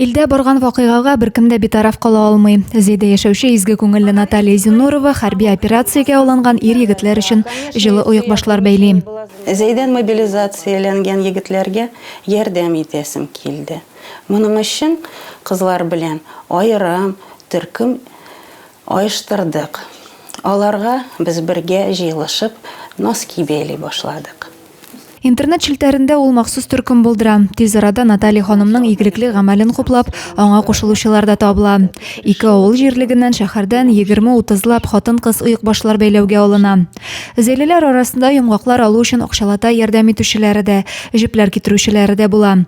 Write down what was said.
Илдә барган вакыйгага беркем дә битараф кала алмый. Зәйдә яшәүче изге күңелле Наталья Зинурова хәрби операциягә алынган ир-егетләр өчен җылы оекбашлар бәйли. Зәйдән мобилизацияләнгән егетләргә ярдәм итәсем килде. Моның өчен кызлар белән аерым төркем оештырдык. Аларга без бергә җыелышып носки бәйли башладык. Интернет челтәрендә ул махсус төркем булдыра. Тиз арада Наталья ханымның игелекле гамәлен хуплап, аңа кушылучылар да табыла. Ике авыл җирлегеннән, шәһәрдән 20-30 лап хатын-кыз оекбашлар бәйләүгә алына. Зәйлеләр арасында йомгаклар алу өчен акчалата ярдәм итүчеләре дә, җепләр китерүчеләре дә була.